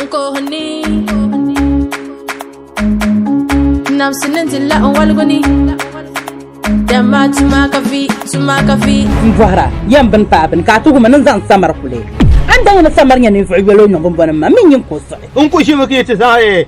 Nkohini Namsi ni di la n waligu ni Dama tuma ka vi, tuma ka vi N bɔhira yɛn bini paai bini ka a tuhi ma ni n zaŋ samar kuli. A ni daa nyɛ ni samar nyɛ ninvuɣ yoli o nyɔŋ bɔnbɔni ma, m mi nyin ka o suɣi. N ku ʒimi ka yi ti zaŋ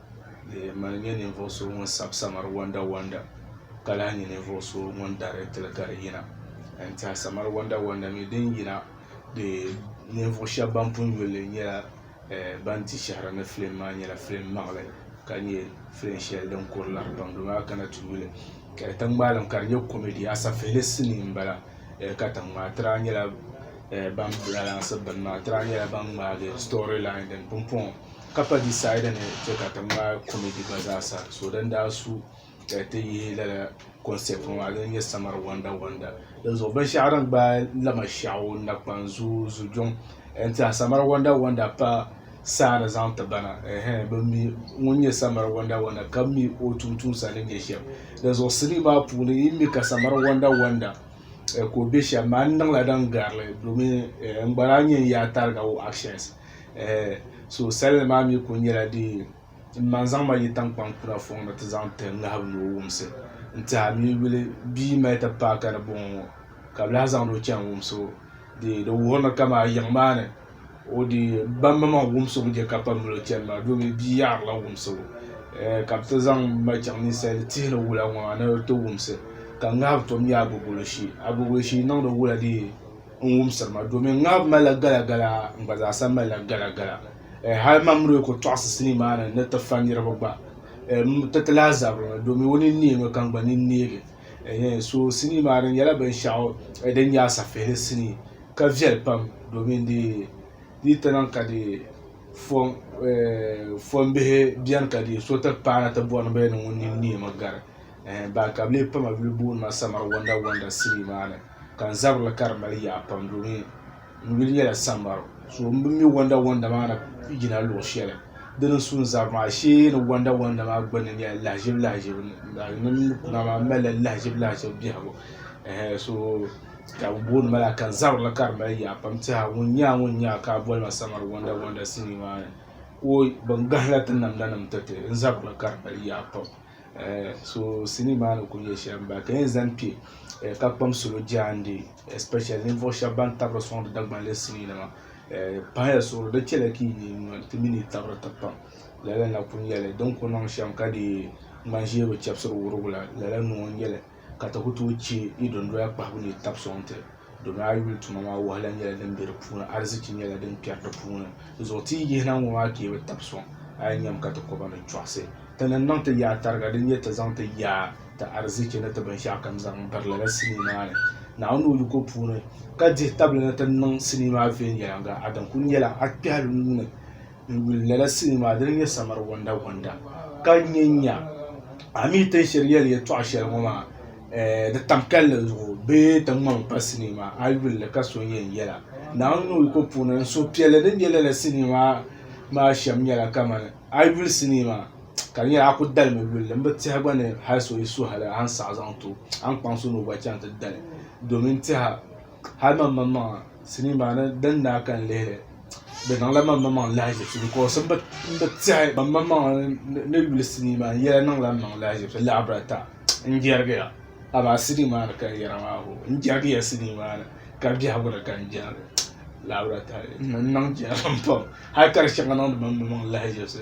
di mali nyɛ ninvuɣ so ŋun sabi samar wandawanda ka lahi nyɛ ninvuɣ so ŋun daritili ka di yina n tɛha samar wandawanda mi din yina ninvuɣ shɛb ban pun yuli li nyɛla ban di shɛhira ni filim maa nyɛla filim maŋli ka nyɛ filim shɛli din kuri lari pam dama a kana ti yuli ka di tiŋgbaalim ka di nyɛ kɔmidi asafihili sinii m-bala katiŋ maa ti daa nyɛla ban balansi bini maa ti daa nyɛla ban ŋmaagi sitɔri lain din pumpɔŋɔ ka pa disaidi ni chɛ ka ti ŋmaai kɔmɛdi gba zaa sa so din daa su ka ti yihi lala kɔnsɛt ŋɔ maa din nyɛ samiri wɔnda wɔnda din zuɣu binshɛɣu din gbaai lama shɛɣu nakpan zuyu zujuŋ n tiɛha samiri wɔnda wɔnda pa saa ni zaŋ ti ba na ɛɛhɛn bin mi ŋun nyɛ samiri wɔnda wɔnda ka mi o tuuntumsa ni nyɛ shɛm din zuɣu sinii maa puuni yi mi ka samiri wɔnda wɔnda ka o bɛ shɛm maa n niŋla din garili domin n gba lahi nyɛ n yaa tariga o actions so salli maa mi kuli nyɛla din ma n zaŋ ma yi tankpaŋ kuna fɔŋ ni ti zaŋ tiri ŋahibu ni o wumsi n tiɛha mi yuli bia n mali ti paai ka di bɔŋɔ ŋɔ ka bi lahi zaŋdi o chaŋ wumsi o dee di wuhiri ni ka maa yiŋ maa ni o dee ba maŋmaŋ wumsi o ni chɛ ka pam mali o chani maa doomi bia yaɣiri la wumsi o ka bi ti zaŋ ma chaŋ ninsali tihi ni wula ŋɔ maa ni bi ti wumsi ka ŋahibu tom nyɛ agogo li shee agogo li shee niŋdi wula dee. n wumsiri ma domin ŋab malila galagala n gba zaasa malila galagala eh, hal man mi lee ku tɔɣisi sinii maa ni ni ti fa niriba gba eh, m ti ti lahi zabiri mi domin o nini neemi ka n gba nini neegi eh, eh, so sinii maa di nyɛla binshɛɣu eh, din nyɛ asafihili sinii ka viɛli pam domin di di ti niŋ ka di fɔm eh, fɔmbihi bɛni ka di so ti paana ti bɔri ni bɛ ni ŋun nini neemi gari eh, ban ka bi lee pa ma yuli booni ma samar wanda wanda sili maa ni ka n zabirili ka di mali yaa pam domin n yuli nyɛla samar so n bi mi wanda wanda maa na yina luɣ shɛli di ni sun zab maa shee ni wanda wanda maa gbunni nyɛla lahiʒibu lahiʒibu ni kuna maa malila lahiʒibu lahiʒibu biɛhigu eh, so ka bi booni ma la ka n zabirili ka di mali yaa pam tiɛha ŋun nyɛ a ŋun nyɛ a ka a boli ma samar wanda wanda sili maa ni ko bin gahila ti namda nim ti ti n zabirili ka di mali yaa pam So sinii maa ni ku nyɛ shɛm ba ka yɛn zaŋ kpɛ ka kpam salo jaande especially ninvuɣu shɛba ban tabiri sɔŋdi Dagbamb sinii nima pahila suɣuri di chɛla ka yi nyin ŋɔ ti mini yi tabiri ti kpam lala na ku nyɛli din ku niŋ shɛm ka dii ŋmani ʒiɛ bi chɛbisiri wurugu la lala noo n nyɛli ka ti ku tooi chɛ yi dondoya kpahibu ni yi tabi sɔŋ ti, domin a yuli tuma maa wahala nyɛla din be di puuni, arzichi nyɛla din kpɛri di puuni. Dinzuɣu ti yi yihi na ŋɔ maa ka yi bi tabi sɔŋ, a yɛn nyami ka ti kɔba ni chɔɣisi. Ti ni niŋ ti yaa tariga, di nyɛ ti zaŋ ti yaa, ti arzichi ni ti binshɛɣukam zaŋ biri lala sinii maa ni, Naawuni ni o yiko puuni, ka dihi tabili ni ti niŋ sinii maa viɛnyɛliŋga. Adam kul nyɛla a kpɛhili nuu ni. N yuli lala sinii maa dini nyɛ samari wanda wanda ka nyɛ nya a mi tin shiri yɛli yɛtɔɣa shɛli ŋɔ maa eh, di tam kalli zuɣu bee ti ŋmami pa sinii maa a yuli li ka so yɛn yɛla naawuni ni o yiko puuni n suhupiɛlli din bɛ lala sinii maa maa shɛm nyɛla kamani a yuli sinii maa ka di nyɛla a ku dalimi yuli li n bi tiɛha gba ni hali so yi suhili a ni saɣi zaŋ ti o a ni kpaŋsi ni o gba chaŋ ti dali domin tiɛha hali mam mani maŋa sinii maa ni din daa ka n lihili di niŋla mam mani maŋa lahaʒibisi bikos n bi tiɛhi ban mani maŋa ni yuli sinii maa yɛla niŋla n maŋa lahaʒibisi lahabira ata n jɛrigiya amaa sinii maa ni ka n yɛra maa hoo n jɛrigiya sinii maa ni ka biɛhigu ni ka n jɛrigi lahabira ata n niŋ jɛrim pam hali ka di shɛŋa niŋdi mam mani maŋa lahaʒibisi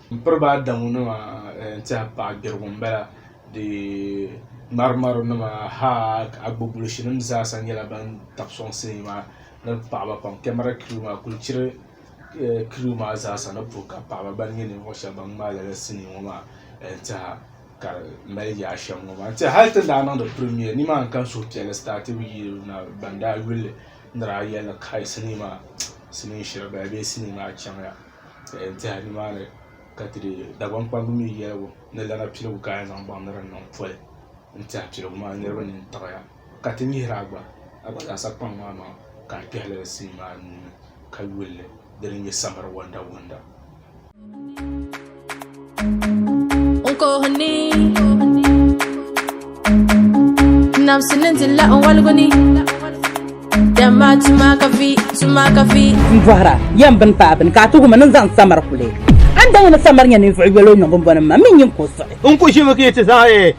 M piri ba Adamu nima n tɛha paɣa gbirigu m bala di ŋmariŋmari nima haa agbobulisi nim zaasa nyɛla ban tabi sɔŋ sinii maa ni paɣaba pam kemara kiriw maa kuli chiri kiriw maa zaasa ni puhi ka paɣaba gba nyɛ ninvuɣu shɛba ban ŋmaai lala sinii ŋɔ maa n tɛha ka di mali yaa shɛm ŋɔ maa n tɛha hali ti daa niŋdi pirimiya ni maa n kan suhi piɛlli sitati bi yi na ban daa yuli ni daa yɛli ni kai sinii maa sinii shiri bala bee sinii maa chaŋya. ka yɛn tɛha ni maa ni ka ti dee Dagbaŋ kpamba mi yɛligu ni lana piligu ka a yɛn zaŋ baŋ ni di niŋ poli n tɛha piligu maa niriba nini tiɣiya ka ti nyihira gba Agbataasa kpaŋ maa maŋa ka a kpɛhi lala sini maa nuu ni ka yuli li di ni nyɛ samiri wɔndawɔnda. Nkohini Namsi ni di la nwaliguni Dama tuma ka vi, tuma ka vi N bɔhira yɛn bini paai bini ka a tuhi ma ni n zaŋ samar kuli. An daa yɛn ni samar nyɛ ninvuɣ yoli o nyɔŋ bɔnbɔnim maa, min nyin ka o suɣi. N ku ʒimi ka yi ti zaŋ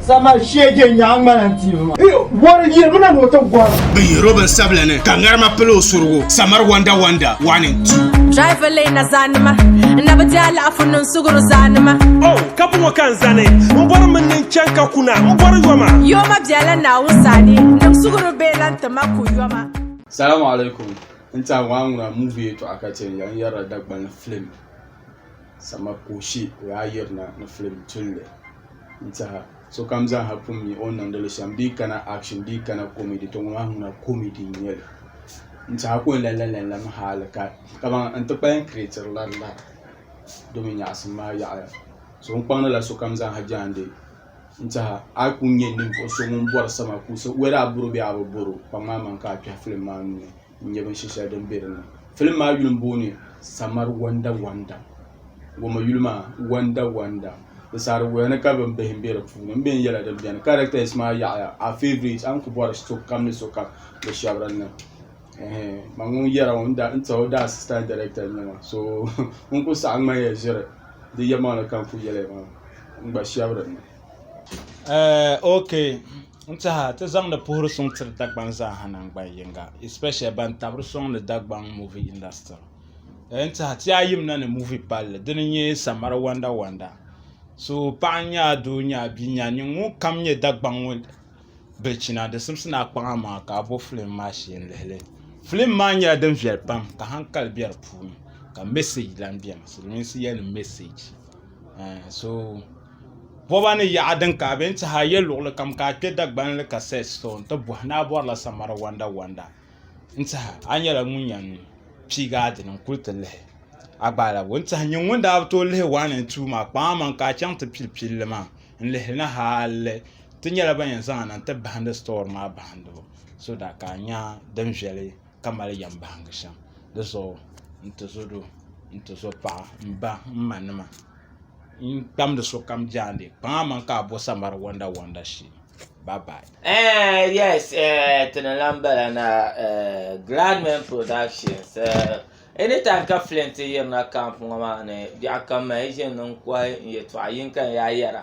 Sama shege nyaɣa ŋmana n tiibi ma. Yi bɔri yirimina ni o ti gɔra. Bɛ yihir o binsabila ni, ka ŋarima pili o surigu, Samar Wonder Wonder, one and two. Driver leei na zaanima, n na bi ti alaafo niŋ suɣuri zaanima. Oh, ka bɔŋɔ ka n zani, n bɔri min ni n chani ka kuna, n bɔri yoma. Yoma biɛla Naawuni sani, niŋ suɣuri bee lan ti ma ku yoma. Salamu alaikum, n tɛha ŋɔ a ŋuna movie yɛtɔɣa ka chɛ n yɛn yɛrila Dagbani film. Sama ka o she o yaa yirina ni film tulli n tiɛha sokam zaaha pun mi o ni niŋdili shɛm bee kana action bee kana comedy to ŋɔ maa ŋuna comedy n nyɛli n tiɛha ka o la lala mi hali ka kaman n ti kpalim creatiri la n lara domi nyaɣisim maa yaɣaya so n kpaŋdila sokam zaaha jaande n tiɛha a yi pun nyɛ ninvuɣu so ŋun bɔri sama kuusa whether a bɔri o bee a bi bɔri o kpaŋmaŋmaŋ ka a kpɛhi film maa nuu ni n nyɛ binshɛ shɛli din bɛ dinni filim maa yuli n booni samari wanda wanda goma yuli maa wanda wanda di saarigoya ni ka bin bihi bɛ di puuni n biɛni yɛla din biɛni kɛrɛtɛs maa yaɣaya a fiɛvirɛt a ni ku bori sokam ni sokam bi shab dinni ban ŋun yɛra ŋɔ n tiɛhi o daa asistant dɛrɛkta n nyɛba so n ku saɣam ŋmani yɛn ʒiri di yɛlimaŋli ka n ku yɛli maa n gba shab dinni Eh, okay. N tiɛha ti zaŋdi puhiri suŋ tiri Dagbaŋ zaaha nangban yiŋga, especially ban tabiri sɔŋ ni Dagbaŋ movie industry. Eh, n tiɛha ti yaa yimina ni movie palli, dini n nyɛ Samara Wanda Wanda. So paɣa n-nyɛ a doo n-nyɛ a bia n-nyɛ a, nyini ŋun kam nyɛ Dagbaŋ ŋɔ bilichina di simsi ni a kpaŋa maŋa ka a bo filim maa shee n-lihi li. Filim maa nyɛla din viɛli pam ka hankali be di puuni ka message lan beni, Silimiinsi yɛliŋ message. Ɛɛn so boba ni yaɣa din ka a be n-tihi a yɛ luɣili kam ka a kpe Dagbani li ka search store nti bɔhi ni a bɔrila Samara Wanda Wanda n-tihi a nyɛla ŋun yɛn piigi a dini n-kuli ti lihi a gba alabo n-tihi nyini ŋun daa bi tooi lihi one and two maa kpaŋa maŋa ka a chaŋ ti pili pilli maa n-lihi li na hali ti nyɛla ban yɛn zaŋ na n-ti bahindi sitɔri maa bahindibu so daa ka a nya din viɛli ka mali yɛm bahingi shɛm di zuɣu n ti zo doo n ti zo paɣa m ba m ma nima n kpamdi sokam jaande kpaŋ a maŋ ka a bo sambani wanda wanda shee bye bye. Eh, yes, eh, ti ni lan bala na, eh, Gladman Productions, eh, anytime ka film ti yirina camp ŋɔ maa ni, biɛɣu kam ma yi ʒini n-kɔhi n-yɛtɔɣa yinka n-yaa yɛra.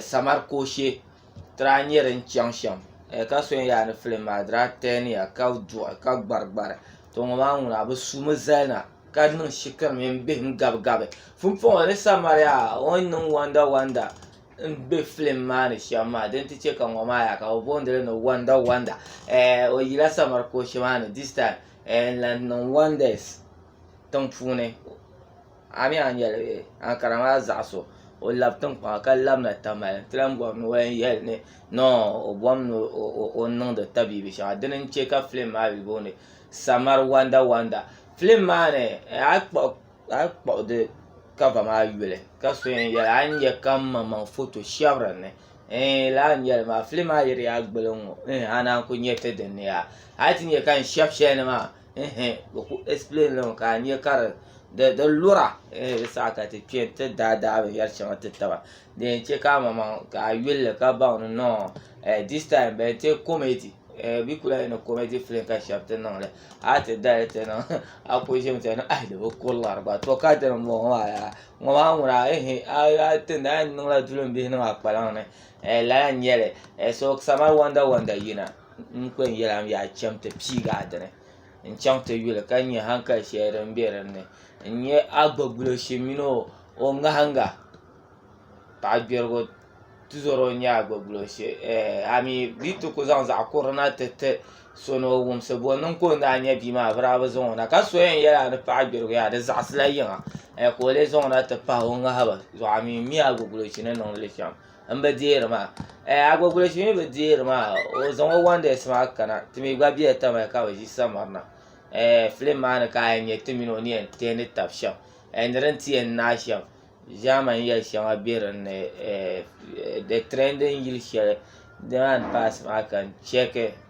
samar kooshe ti daa nyɛ din chɛŋ shɛm ka so yɛn yaa ni filim maa di daa tɛɛniya ka duɣi ka gbari gbari to ŋɔ maa ŋuna bi sumi zali na ka niŋ shikuru mini bihim gabi gabi pumpɔŋɔ di samariya o ni niŋ wanda wanda n bɛ filim maa ni shɛm maa din ti chɛ ka ŋɔ maa yaha ka bi boondili ni wanda wanda o yila samar kooshe maa ni dis taim n lahi niŋ wandɛs tiŋ puuni A mi a ni yɛli bee? Ankara maa zaɣ so, o lab tiŋkpaŋa ka labina tamali nti lan bɔri ni o yɛn yɛli ni nɔɔ o bom ni o niŋdi tabiibi shɛŋa. Dini n-chɛ ka filim maa bi booni Samar Wonder Wonder. Filim maa ni a yi kpuɣi di kava maa yuli ka so yɛn yɛli a ni nya ka m maŋmaŋ foto shɛb din ni. Eei lala ni yɛli maa, filim maa yiri ya gili n-ŋɔ, eeh a naan ku nya ti din ni yaa. A yi ti nya ka n shɛb shɛli ni maa, ehe bɛ ku explain li ka a nya ka di di lura ehe di saha ka ti kpe ti daa daa binyɛr shɛŋa ti taba di yɛn chɛ ka amaŋmaŋ ka a yuli li ka baŋ ni nɔɔ eh this time bɛ yɛn ti comedy eh bɛ ku lahi yɛli ni comedy film ka shɛba ti niŋ li a ti dali ti niŋ a ku ʒimi ti yɛli ah di bi ku lari ba to ka dini m-bɔŋɔ maa yaa ŋɔ maa ŋuna ehe a a tin daa yɛn niŋla dulinbihi niŋ a kpalaŋ ni eh lala n-nyɛ li eh so sama wanda wanda yina N kpe n-yɛl a mi yaa cham ti piigi a dini n-chaŋ ti yuli ka nya haŋkali shɛli din be din ni n-nya a gbuɣibuɣiloshi mini o ŋahiŋga paɣ gbɛrigu tizɔri o n-nya a gbuɣibuɣiloshi ami bɛ yi ti ku zaŋ zaɣ kurili na ti ti so ni o wumsi bɔ niŋ ka o ni daa nya bia maa bɛ daa bi zaŋ o na ka so yɛn yɛl a ni paɣ gbɛrigu yaa di zaɣisila yiŋa ka o leei zaŋ o na ti pahi o ŋahibu zuɣu ami m-mi a gbuɣibuɣiloshi ni niŋdi li shɛm n bi deeri maa eh, agbogbulo shili mi bi deeri maa o zaŋ o wonders maa kana ti mi gba bɛ tama ka bi ʒi samarina eh, filim maa ni ka a nyɛ ti mini o ni yɛn tɛni tabi shɛm eh, ni din ti yɛn naai shɛm ʒaamani yɛli shɛŋa bɛ dinni eh, the trending yili shɛli demand pass maa ka n chɛki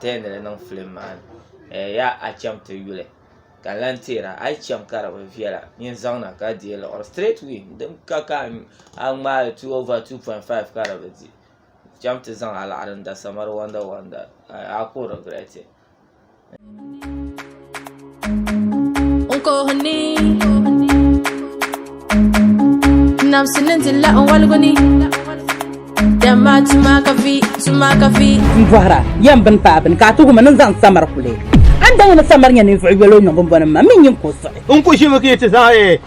tɛli ni di niŋ filim maa ni yaa a chaŋ ti yuli ka n lahi tɛɛra a yi chaŋ ka di bi viɛla nyin zaŋ na ka deei liɣiri straight way din ka ka a ŋmaai li two over two point five ka di bi di chaŋ ti zaŋ alaɣiri n da samari wanda wanda a ku regret it. Bɔhira yɛn bini paai bini ka a tuhi ma ni zaŋ samar kuli. An daa yɛn ni samar nyɛ ninvuɣ yoli o niŋgbuŋ bɔni ni ma, m mi nyin ka o suɣi. N ku ʒimi ka yi ti zaŋ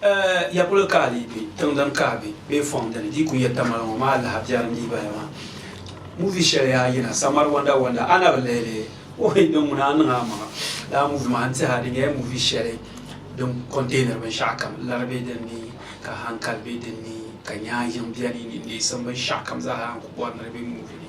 Ɛɛh! Ya kuli ka di be tiŋ din kahi be bee fɔŋ dini di yi kuli yɛtta mali ŋɔ maa lahi biɛri n-dii baya maa. Movie shɛli yaa yina Samar Wonder Wonder a na bi lihi li? Ohi! Din ŋuna a niŋ a maŋa. Lala movie maa n tihi a di nyɛla movie shɛli din containiri binshɛɣu kam lari be din ni ka hankali be din ni ka nyaanyiŋ beni ni neesim binshɛɣu kam zaa ha n kuli bɔri ni di be movie ni.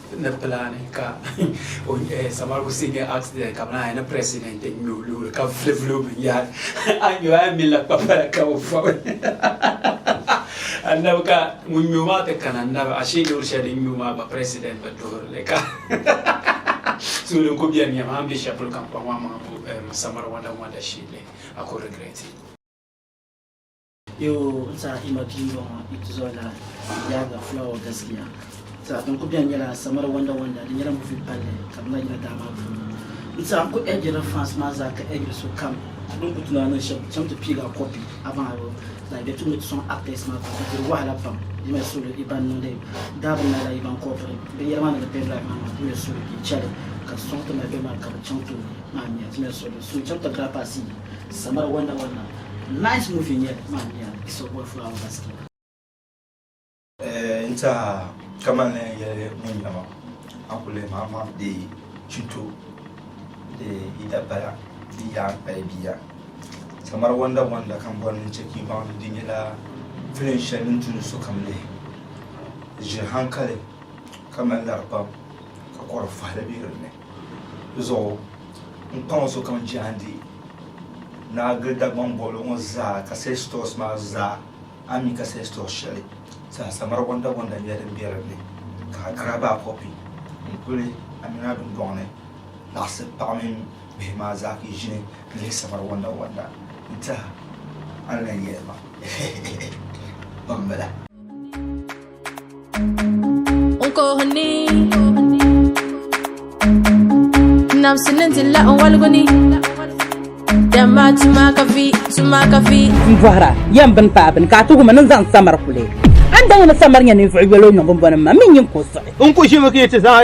ni plani ka Samar Hussein nyɛ accident ka bɛnaa ni president n nyɛ o loori ka vuli vuli o binyɛhari a nyɛ a mi la kpapala ka o fɔbi annabi ka ŋun nyɛ o maa ti kana annabi ashe loori shɛli din nyɛ o maa gba president bi duhirili ka so din ko biɛni nyɛma an bɛ shɛli polo kam kpaŋ maa maŋa bo Samar wanda wanda shit a ko regret Yoo n sa i ma bia bɔŋɔ i tizɔri la yaaga fulawa gaskiya sa din ku bɛni nyɛla samara wanda wanda di nyɛla movie palli ka bɛ na yina daa maa puuni n sa n ku ɛgirila fans maa zaa ka ɛgiri so kam din ku tuna niŋ shɛb chaŋ ti piigi a copy abaŋ a yoo like bɛ tum ni ti sɔŋ actors maa pam ka diri wahala pam di me suli i ban niŋdi dabbing maa la i ban copiri bin yɛra maa niŋdi pen drive maa maa di me suli n chali ka ti sɔŋ ti mali bɛ maa ka bɛ chaŋ tooi maa nya di me suli so chaŋ ti grab a sii samara wanda wanda. Nice movie n-nyɛ li maa miya di so boli fulawa gaskiya. N tiɛha ka mali ni n yɛli ŋun yina maa a ku leei ma amaa di chito di yi da bala di yi daa pali bia samara wanda wanda ka m bɔri ni n chɛ ka yi baŋ ni di nyɛla film shɛli din tu ni sokam lihi di ʒiri hankali ka mali lari pam ka kɔri fahili be din ni. Di zuɣu n kpaŋ o sokam jehandi Naa gili Dagbaŋ bɔbili ŋɔ zaa ka seh stores maa zaa a mi ka seh store shɛli zaa samara gonda gonda nyɛla din be din ni ka a grab a copy n kuli Amina dundɔŋ ni laɣisi paɣa mini bihi maa zaa ka yi ʒini n lihi samara gonda gonda n tɛha a ni lan yɛli ma heheheh kpambila. n bɔhira yɛn bini paai bini ka a tuhi ma ni n zaŋ samar kuli an da yɛn ni samar nyɛ ninvuɣ yɛlo niŋ bin bɔni ma mi nyin ko siɣi n ku ʒimi ka yi ti zaŋ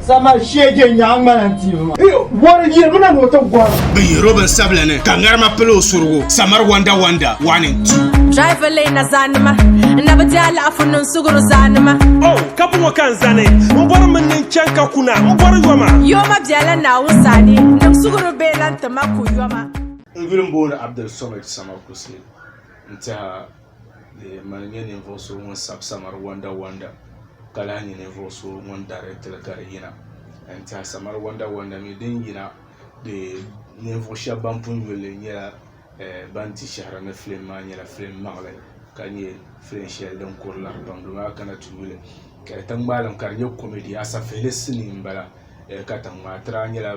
Sama shege nyaŋ ŋmana n tiivi ma. Bɔri yirimina ni o ti gɔra. Bɛ yihir o binsabila ni, ka ŋarima pili o surigu. Samar Wonder Wonder, one and two. Driver leei na zaanima, n na bi ti alaafo niŋ suguri zaanima. Oh, ka bɔŋɔ ka n zani, n bɔri min ni n chaŋ ka kuna, n bɔri yoma. Yoma biɛla Naawuni sani, niŋ suguri bee lan ti ma ku yoma. N yuli m-booni Abdel Somad Sama Kusey n-tɛha di yɛn mali nyɛ ninvuɣu so ŋun sabi samari wanda wanda ka lahi nyɛ ninvuɣu so ŋun dareetili ka di yina n tiɛha samari wanda wanda mii din yina ninvuɣu shab ban pun yulli nyɛla ban di shahara ni filim maa nyɛla filim maŋli ka nyɛ filim shɛli din kuri lari pam dama a kana ti yuli ka di tiŋmaalim ka di nyɛ komɛdi asafihili sinii n bala katiŋ maa ti lahi nyɛla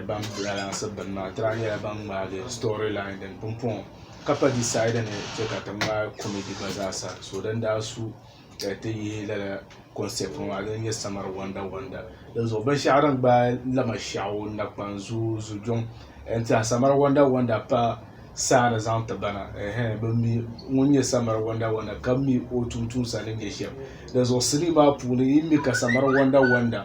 ban balansi bini maa ti lahi nyɛla ban ŋmaagi sitɔri lain din pun puɣum ka pa disaidi ni chɛ ka ti ŋmaai kɔmɛdi gba zaa sa so din daa su ka ti yihi lala kɔnsɛt ŋɔ maa din nyɛ samiri wɔnda wɔnda dinzuɣu binshɛɣu din gbaai lama shɛɣu nakpani zuyu zujuŋ n tiɛha samiri wɔnda wɔnda pa saa ni zaŋ ti ba na ɛɛh bi mi ŋun nyɛ samiri wɔnda wɔnda ka mi o tuuntumsa ni nyɛ shɛm dinzuɣu sinii maa puuni yi mi ka samiri wɔnda wɔnda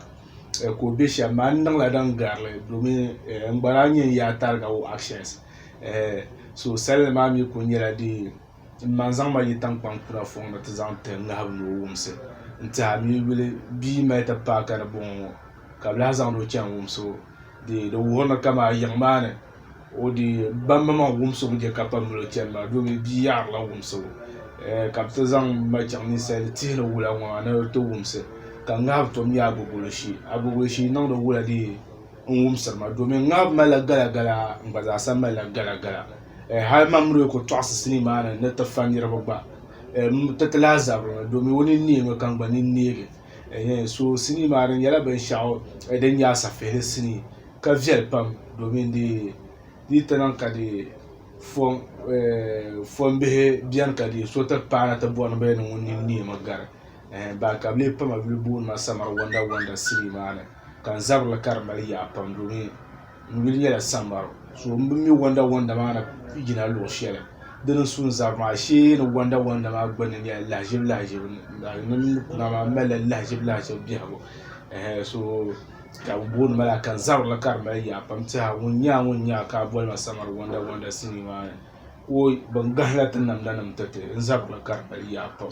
ka o bɛ shɛm maa n niŋla din garili domin n gba lahi nyɛ n yaa tariga o actions eh, so salinli maa mi kuli nyɛla dee n ma n zaŋ ma yi tankpaŋ kuna fɔŋ ni ti zaŋ ti ŋahibu ni o wumsi n tiɛha mi yuli bia mali ti paai ka di bɔŋɔ ŋɔ ka bi lahi zaŋdi o chɛni wumsi o dee di wuhiri ni kama yiŋ maa ni o dee bambi maŋ wumsi o ni je ka pam mali o chɛni maa domi bia yaɣarila wumsi o eh, ka bi ti zaŋ ma chaŋ ninsali tihi ni wula ŋɔ maa ni o ti wumsi ka ŋahibu tom nyɛ agogo li shee agogo li shee niŋdi wula dee n wumsiri ma domin ŋab malila galagala n gba zaasa malila galagala eh, hal mam mi lee ku tɔɣisi sinii maa ni ni ti fa niriba gba eh, m ti ti lahi zabiri mi domin o nini neemi ka n gba nini neegi eh, eh, so sinii maa di nyɛla binshɛɣu eh, din nyɛ asafihili sinii ka viɛli pam domin di di ti niŋ ka di fɔm eh, fɔmbihi bɛni ka di so ti paana ti bɔri ni bɛ ni ŋun nini neemi gari eh, baa ka bɛ lee pa ma yuli booni ma Samar Wanda Wanda City maa ni ka n zabiri li ka di mali yaa pam domin n yuli nyɛla Samar so m bi mi Wanda Wanda maa ni yina luɣ shɛli di ni su n zabiri maa shee ni Wanda Wanda maa gbunni nyɛla lahiʒibu lahiʒibu ni kuna maa m malila lahiʒibu lahiʒibu biɛhigu eh, so ka bɛ booni ma laa ka n zabiri li ka di mali yaa pam tɛha ŋun nya a ŋun nya a ka a boli ma Samar Wanda Wanda City maa ni ko ban gahila ti namda nim ti ti n zabiri li ka di mali yaa pam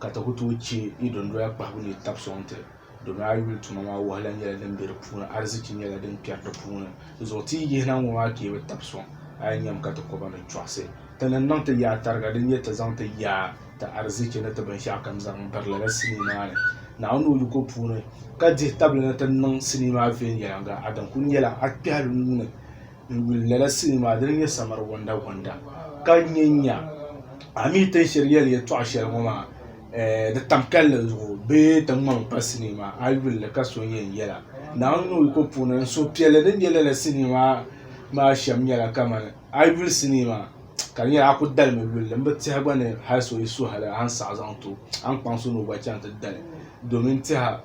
ka ti ku tooi chɛ yi dondoya kpahibu ni yi tabi sɔŋ ti, domin a yuli tuma maa wahala nyɛla din be di puuni, arzichi nyɛla din kpɛri di puuni. Dizuɣu ti yi yihi na ŋɔ maa ka yi bi tabi sɔŋ, a yi nyami ka ti kɔba ni chɔɣisi. Ti ni niŋ ti yaa tariga, di nyɛ ti zaŋ ti yaa, ti arzichi ni ti binshɛɣukam zaŋ biri lala sinii maa ni, Naawuni ni o yiko puuni, ka dihi tabili ni ti niŋ sinii maa viɛnyɛliŋga. Adam kul nyɛla a kpɛhili nuu ni. n yuli lala sinii maa dini nyɛ samari gonda gonda ka nyɛ nya a mi tin shiri yɛli yɛtɔɣa shɛli ŋɔ maa di tam kalli zuɣu bee ti ŋmami pa sinii maa a yuli li ka so yɛn yɛla naawuni ni o yiko puuni n suhupiɛlli din bɛ lala sinii maa maa shɛm nyɛla kamani a yi yuli sinii maa ka di nyɛla a ku dalimi yulli n bi tiɛha gba ni hali so yi suhili a ni saɣi zaŋ ti o a ni kpaŋsi ni o gba chaŋ ti dali domin tɛha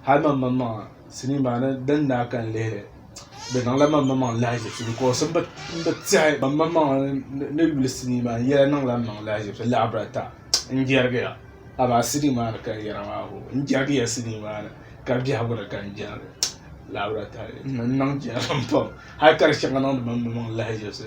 hali mam man maŋa sinii maa ni din daa ka n lihili di niŋla mam man maŋa lahiʒibisi bikos n bi tiɛhi ban man maŋa ni yuli sinii maa yɛla niŋla n maŋa lahiʒibisi lahabira ta n jɛrigiya amaa sinii maa ni ka n yɛra maa hoo n jɛrigiya sinii maa ni ka biɛhigu ni ka n jɛrigi lahabira ta n niŋ jɛrim pam hali ka di shɛŋa niŋdi mam maŋa lahiʒibisi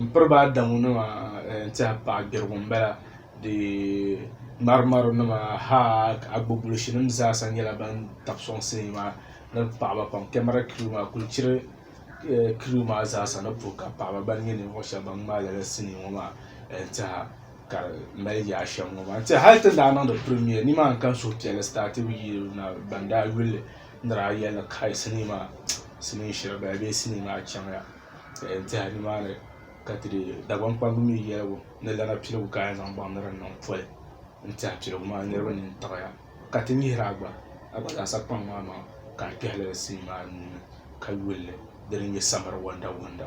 M piri ba Adamu nima n tɛha paɣa gbirigu m bala di ŋmariŋmari nima ha agbubulushi nim zaasa nyɛla ban tabi sɔŋ sinii maa ni paɣaba pam kɛmara kiriw maa kuli chiri kiriw maa zaasa ni puhi ka paɣaba gba nyɛ ninvuɣu shɛba ban ŋmaai lala sinii ŋɔ maa n tɛha ka di mali yaa shɛm ŋɔ maa n tɛha hali ti ni daa niŋdi pirimia ni maa n kan suhupiɛlli sitaati bi yi na ban daa yuli ni daa yɛli ni kai sinii maa sinii shiri bala bee sinii maa chaŋya. tɛha ni maa ni ka ti dee Dagbaŋ kpamba mi yɛligu ni lana piligu ka yɛn zaŋ baŋ ni di niŋ poli n tɛha piligu maa niriba nini taɣiya ka ti nyihira gba Agbataasa kpaŋ maa maŋa ka n kpɛhi lala sini maa nuu ni ka yuli li di ni nyɛ samiri wɔndawɔnda.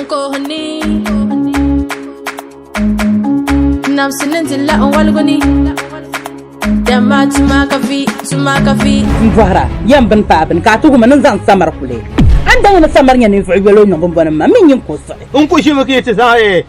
Nkohini Namsi ni di la n waligu ni Dama tuma ka vi, tuma ka vi N bɔhira, yɛn bini paai bini ka a tuhi ma ni n zaŋ samar kuli. An daŋ ni samar nyɛ ninvuɣ yoli o niŋgbuŋbɔni ma, min nyin ka o suɣi. N ku ʒimi ka yi ti zaŋ